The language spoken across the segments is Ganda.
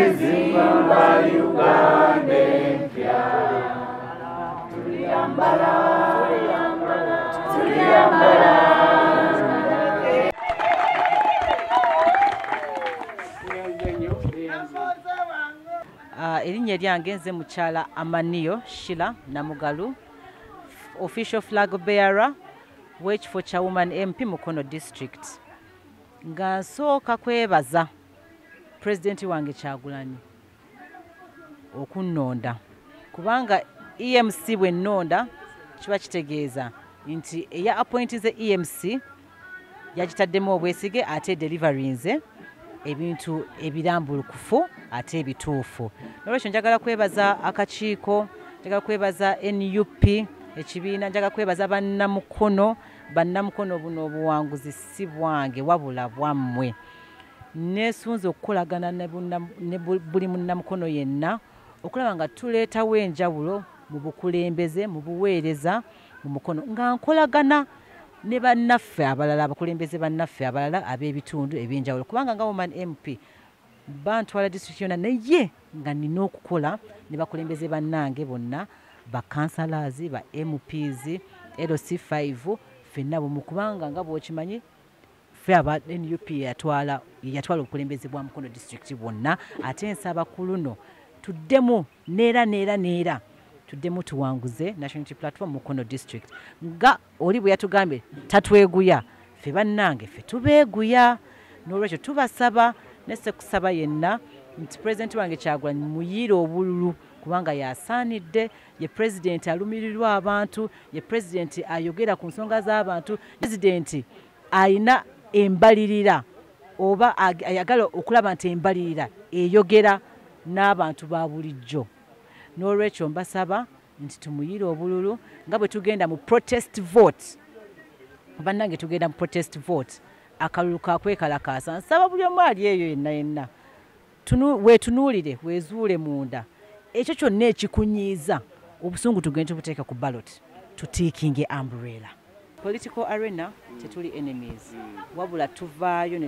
tulizimba uganda empya tuliyambala tuliyambala Ah, erinnya eryange nze mukyala amaniyo shila namugalu official flag bearer w'ekifo kya woman mp mukono district nga nsooka kwebaza president wange kyagulanyi okunnonda kubanga emc bwennonda kiba kitegeeza nti eya appointi ze emc yagitaddemu obwesige ate deliverinze ebintu ebirambulukufu ate ebituufu nolwekyo njagala kwebaza akakiiko njagala kwebaza nup ekibiina njagala kwebaza bannamukono bannamukono buno obuwanguzi si bwange wabula bwammwe Neesunze okukolagana ne buli munnamukono yenna okulaba nga tuleetawo enjawulo mu bukulembeze, mu buweereza mu mukono nga nkolagana ne bannaffe abalala abakulembeze bannaffe abalala ab'ebitundu eby'enjawulo kubanga nga woman mp bantwala disitulikiti yona naye nga nina okukola ne bakulembeze bannange bonna bakansalaas ba mps lc 5 fenna bumu kubanga nga bwokimanyi ffe aba nup yatwala yatwala obukulembeze bwa mukono district bwonna ate ensaba ku luno tuddemu neera neera neera tuddemu tuwanguze national unity platform mukono district nga oli bwe yatugambye tatweguya ffe bannange ffe tubeeguya n'olwekyo tubasaba nese kusaba yenna nti pulezidenti wange kyagulanyi muyiire obululu kubanga yasaanidde ye president alumirirwa abantu ye president ayogera ku nsonga z'abantu president alina embalirira oba ayagala okulaba nti embalirira eyogera n'abantu ba bulijjo n'olwekyo mbasaba nti tumuyire obululu nga bwe tugenda mu protest vote bannange tugenda mu protest vote akalulu kakwekalakaasa nsaba buli omu ali eyo yenna yenna Tunu, wetunuulire wezuule munda ekyo kyonna ekikunyiiza obusungu tugende tubuteeke ku ballot tutiikinge umbrella political arena tetuli enemies wabula tuvaayo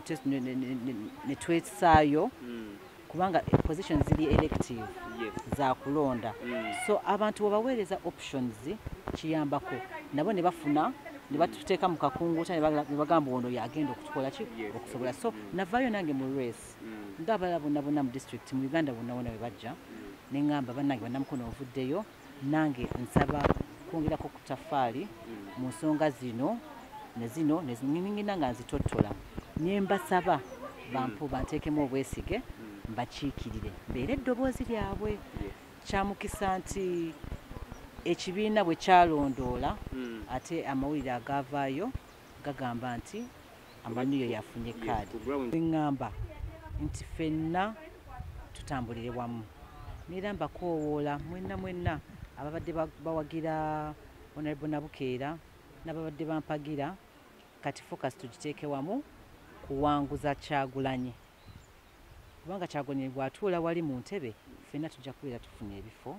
netwesaayo kubanga position ziri elective zakulonda mm. so abantu webaweereza options kiyambako nabo nebafuna nebatuteeka mu kakunguta nebagamba ono yagenda okutukolaki okusobola so navayo nange mu race Moses mm. nga abala bonna bonna mu district mu Uganda bonna bonna webajja ne ngamba banange banamukono ovuddeyo nange nsaba kwongerako ku tafaali mm. mu nsonga zino ne zino nezingina nga nzitottola ne mbasaba bampu mm. banteekemu obwesige mbakiikirire mbeera eddoboozi lyabwe kyamukisa nti ekibiina bwe kyalondoola ate amawulire agaavaayo gagamba nti amaniyo yafunye kaadi eŋŋamba nti fenna tutambulire wamu neera mbakoowoola mwenna mwenna ababadde bawagira onalebo nabukeera nababadde bampagira kati focus tugiteeke wamu kuwanguza kyagulanyi kubanga kyagulanyi bwatuula wali mu ntebe fenna tujja kubeera tufunye ebifo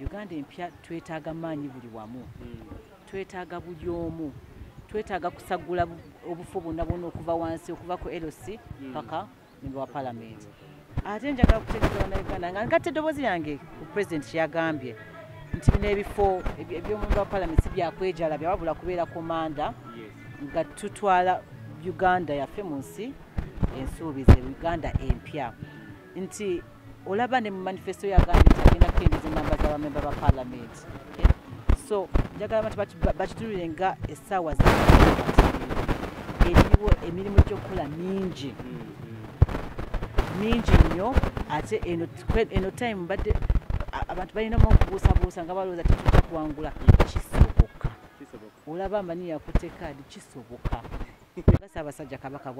uganda empya twetaaga maanyi buli wamu twetaaga buli omu twetaaga kusagula obufu bwonna bwonna okuva wansi okuva ku lc hmm. paka memba wa palamenti ate njagala kutegeeza banauganda nga ngatta eddoboozi lyange ku pulezidenti kyeyagambye nti bino ebifo ebyomumba wa palamenti si byakwejala byawabula kubeera komanda nga tutwala uganda yaffe mu nsi ensuubize uganda empya nti olaba ne mu manifesto yagambye nti agenda kukendeza enamba z'abamemba ba palamenti eh? so njagala bantu bakitulire nga essaawa za eriwo emirimu gyokukola mingi mm-hmm. mingi nnyo ate eno time mbadde abantu balinamu okubuusabuusa nga balowooza tetujja kuwangula kisoboka olaba amanyi yakutte kaadi kisoboka basa abasajja kabaka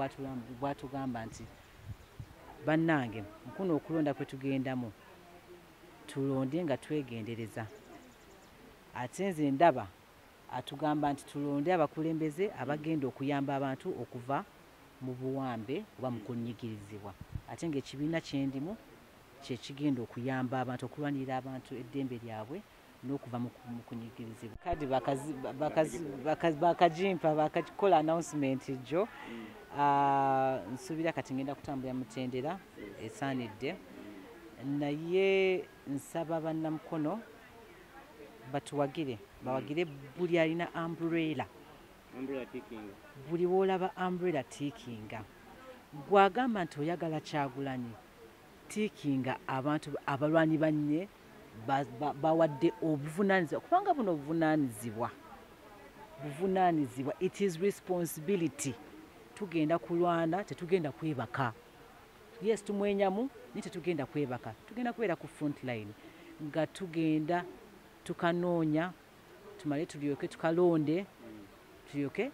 bwatugamba nti bannange nkuno okulonda kwe tugendamu tulonde nga twegendereza ate nze ndaba atugamba nti tulonde abakulembeze abagenda okuyamba abantu okuva mu buwambe oba mu kunnyigirizibwa ate ng'ekibiina kyendimu kyekigenda okuyamba abantu okulwanirira abantu eddembe lyabwe n'okuva mu kunyigirizibwa kadi bakagimpa bakakikola announcement jjo ah, nsuubira kati ngenda kutambulira mutendera esaanidde naye nsaba bannamukono batuwagire bawagire buli alina ambrela buli woolaba ambrela tiikinga gwagamba nti oyagala kyagulanyi tiikinga abantu abalwanyi banne bawadde obuvunaanyizibwa kubanga buno obuvunaanyizibwa buvunaanyizibwa it is responsibility tugenda kulwana tetugenda kwebaka yes tumwenyamu naye tetugenda kwebaka tugenda kubeera ku front line nga tugenda tukanoonya tumale tulyoke tukalonde tulyoke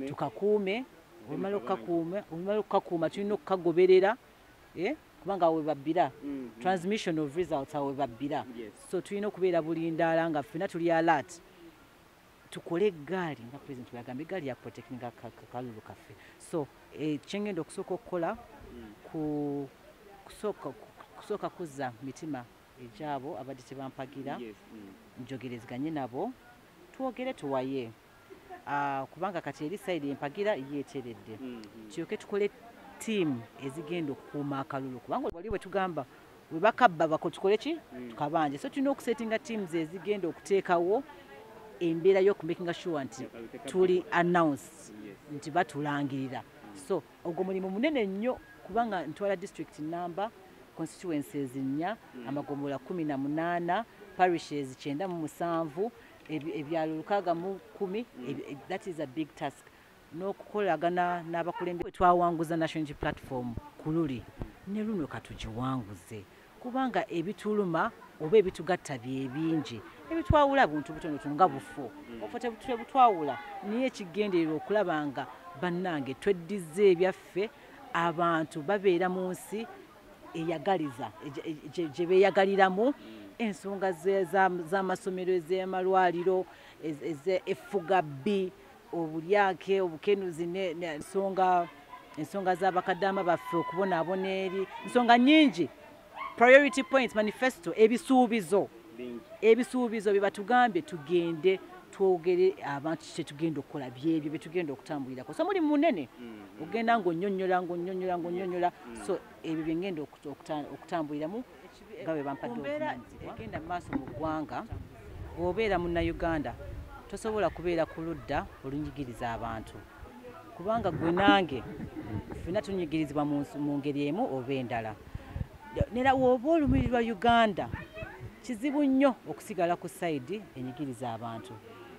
tukakuume olumala okukakuuma tulina okukagoberera eh? kubanga awo webabbira mm, transmission of results awo webabbira so tulina okubeera bulindaala nga ffena tuli alert tukole eggaali nga president bweyagamba eggaali yakuprotektinga kalulu kaffe so eh, kyengenda okusooka okukola kusooka kuzza mitima egyabo abadde tebampagira mm. njogerezganye nabo twogere tuwaye ah, kubanga kati eri sayidi empagira yeeteredde mm-hmm. kiryoke tukole tiimu ezigenda okukuuma akalulu kubanga wali bwe tugamba we bakabba bako tukole ki mm. tukabanje so tulina okusetinga tiimu zezigenda okuteekawo embeera y'okumakinga sure nti tuli announce nti batulangirira mm. so ogwo mulimu munene nnyo kubanga ntwala district namba constituencies nnya mm. amagombolola kumi na munaana parishes kyenda mu musanvu ebyalo lukaaga mu kumi that is a big task n'okukolagana n'abakulembeze twawanguza national platform ku luli ne luno katugiwanguze kubanga ebituluma oba ebitugatta byebingi ebitwawula buntu butonotono nga bufo mm. ofo tebutwawula naye ekigendererwa okulaba nga bannange tweddiza ebyaffe abantu babeera mu nsi eyagaliza gye beeyagaliramu ensonga z'amasomero ez'amalwaliro ez'effuga bbi obulyake obukenuzi ensonga ensonga z'abakadaama baffe okubonaabona eri nsonga nyingi priority points manifesto ebisuubizo ebisuubizo bye batugambye tugende twogere abantu kyetugenda okukola byebyo byetugenda okutambulirako so mulimu munene mm-hmm. ogenda ngaonyonyola ngaonyonyola ngaonyonyola mm-hmm. so ebyo byengenda okutambuliramu nga bwe bampaddeegenda mumaaso mu ggwanga bwobeera munnauganda tosobola kubeera ku ludda olunyigiriza abantu kubanga gwe nange fena tunyigirizibwa mu ngeri emu oba endala nera woba olumirirwa uganda kizibu nnyo okusigala ku sayidi enyigiriza abantu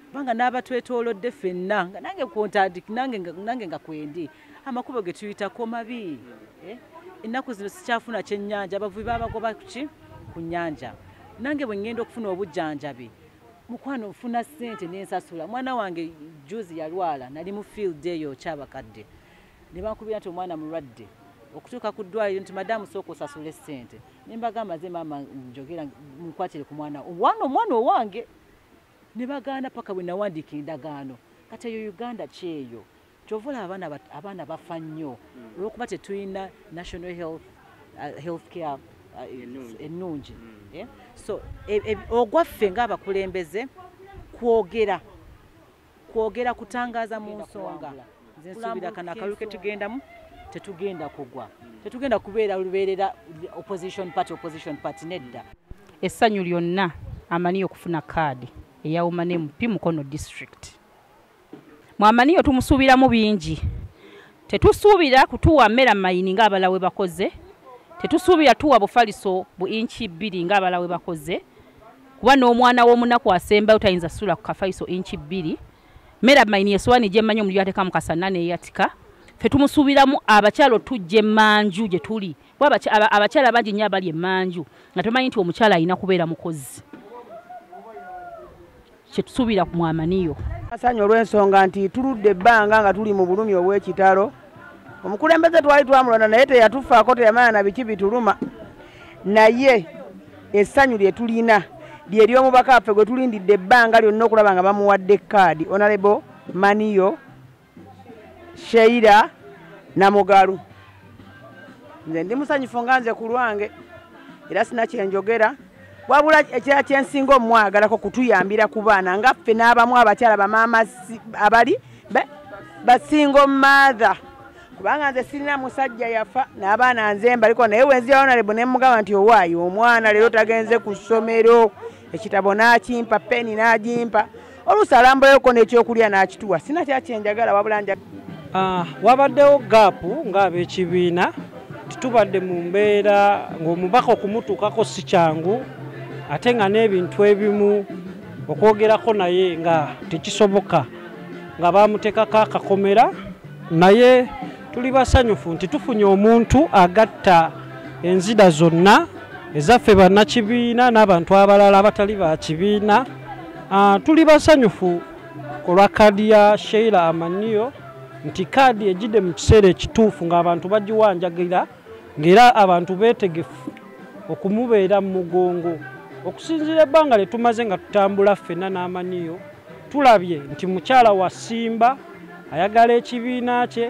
kubanga n'abatwetolodde fenna nga nange kuntadik nange nga kwendi amakubo ge tuyitako mabi eh? ennaku zino sikyafuna kyennyanja abavubi babagoba kuki ku nnyanja nange bwe ŋŋenda okufuna obujjanjabi mukwano nfuna ssente n'ensasula mwana wange juzi yalwala nali mu field eyo kyabakadde ne bankubira nti omwana mulwadde okutuuka ku ddwaliro nti madamu sooka osasule ssente ne mbagamba ze maama njogera nkwatire ku mwana omwana omwana owange ne bagaana paka bwe nawandiika endagaano kati eyo uganda kyeyo kyova olaba abaana bafa nnyo hmm. olwokuba tetulina national health uh, health care uh, ennungi hmm. eh? so e, e, ogwaffe ngaabakulembeze kwogera kwogera kutangaza mu nsonga nze nsubira kana akalu ketugendamu tetugenda kugwa tetugenda kubeera lubeerera opposition party opposition party nedda essanyu lyonna amaniyo okufuna kaadi eyawuma ne mupi mukono district mwamaniyo tumusuubiramu bingi Tetusuubira kutuwa mera mayini ng'abala we bakoze, tetusuubira tuwa bufaliso bu inci bbiri ng'abala we bakoze, kuba n'omwana w'omunaku asembayo tayinza sula ku kafaiso inci bbiri. Mera mayini yesowani gyemmanyi omulyo ateka mu kasanna neyatika. Fe tumusuubiramu abakyala otujja emanju gye tuli, kuba abakyala bangi nnyo abali emanju nga temanyi nti omukyala alina kubeera mukozi. kyetusuubira ku mwamaniyo asanyo olw'ensonga nti tuludde ebbanga nga tuli mu bulumi obw'ekitalo omukulembeze twali twamulonda naye teyatufaako teyamanya na biki bituluma naye essanyu lye tulina lye ly'omubaka waffe gwe tulindidde ebbanga lyonna okulaba nga bamuwadde kaadi onalebo maniyo sheira namugalu nze ndi musanyufu nga nze ku lwange era sina kyenjogera wabula ekirala kyensinga omwagalako kutuyambira ku baana nga ffe n'abamu abakyala bamaama abali basinga omaatha kubanga nze sirina musajja yafa n'abaana nze mbaliko naye wenziraonalebo ne mugamba nti owaayi omwana leero tagenze ku ssomero ekitabo n'akimpa peni n'agimpa oluusi alambulayoko n'ekyokulya n'akituwa sina kyakyenjagala wabula nja ah, wabaddewo gaapu ng'abekibiina titubadde mu mbeera ng'omubaka okumutuukako si kyangu ate nga n'ebintu ebimu okwogerako naye nga tekisoboka nga bamuteekako akakomera naye Tuli basanyufu nti tufunye omuntu agatta enzida zonna ezaffe bannakibiina n'abantu abalala abatali ba kibiina. Ah, tuli basanyufu olwa kaadi ya Sheila Amaniyo nti kaadi ejjidde mu kiseera ekituufu ng'abantu bagiwanjagira ng'era abantu beetegefu okumubeera mu mugongo okusinziira ebbanga lye tumaze nga tutambula ffenna n'amaniyo Tulabye nti mukyala wa Simba ayagala ekibiina kye,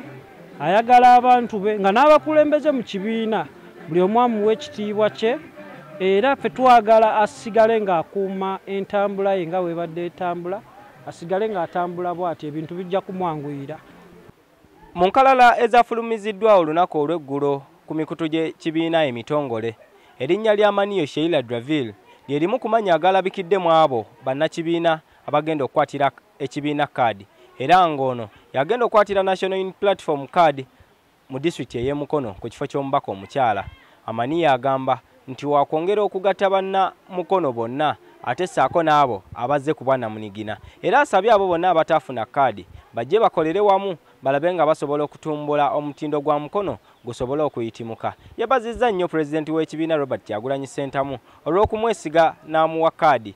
ayagala abantu be nga n'abakulembeze mu kibiina buli omu amuwa ekitiibwa kye era ffe twagala asigale ng'akuuma entambula ye nga bwebadde etambula asigale ng'atambula bw'ati ebintu bijja kumwanguyira. Mu nkalala ezafulumiziddwa olunaku olw'eggulo ku mikutu gye kibiina emitongole, erinnya lya Maniyo Sheila Draville lye limu ku mannya agaalabikidde mu abo bannakibiina abagenda okukwatira ekibiina kkaadi era ng'ono y'agenda okukwatira National Unity Platform kkaadi mu disitulikiti ey'e Mukono ku kifo ky'omubaka omukyala. Amaniyo agamba nti wakwongera okugatta banna mukono bonna ate ssaako n'abo abazze ku bwannamunigina era asabye abo bonna abataafuna kkaadi bajje bakolere wamu balabe nga basobola okutumbula omutindo gwa mukono gusobole okuyitimuka yabazizza nnyo pulezidenti w'ekibiina robert kyagulanyi ssentamu olw'okumwesiga n'amuwa kkaadi